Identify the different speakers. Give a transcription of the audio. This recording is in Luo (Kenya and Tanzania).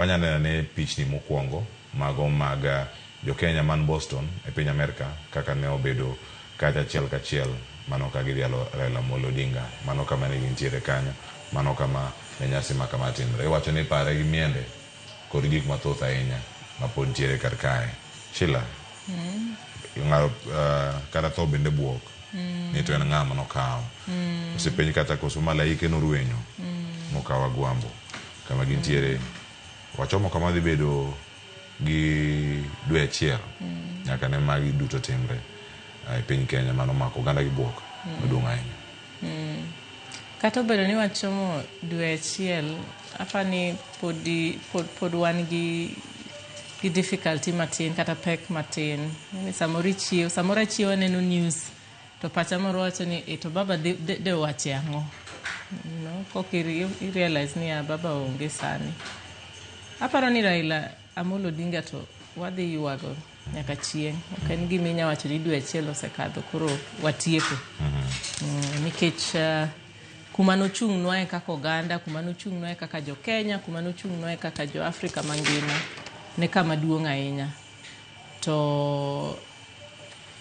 Speaker 1: Wanyalo neno ane pichni mokwongo mago mag Jo-Kenya man Boston e piny Amerka kaka ne obedo kacha achiel kachiel. Mano ka gidhialo Raila Amolo Odinga. Mano kama ne gintiere kanyo. Mano kama ne nyasi ma kama timre. Iwacho ni pare gi miende kod gik mathoth ahinya ma pod nitiere kar kae. Sheila, ng'ado kata tho bende bwok ni to en ng'a ma nokawo. Osepenj kata koso malaike norwenyo mokawo Agwambo. kama gintiere wachomo kama dhi bedo gi dwe achiel nyaka ne magi duto timre e piny Kenya mano mako oganda gi bwok maduong' ahinya.
Speaker 2: Kata obedo ni wachomo dwe achiel, apa ni podi, pod, pod wan gi gi difficulty matin kata pek matin. Ni Samoro ichiew, samoro achiewa neno news To pacha moro wacho ni e to baba de, de, de wache ang'o you know, kok irealize ni ya baba onge sani aparo ni raila amolo odinga to wadhi ywago nyaka chieng' ok en gima inya wacho ni dwe achiel osekadho koro watieko mm, nikech uh, kuma nochung'nwa e kaka oganda kuma nochung'nwa e kaka jokenya kuma nochung'nwa e kaka joafrika mangima ne kama duong' ahinya to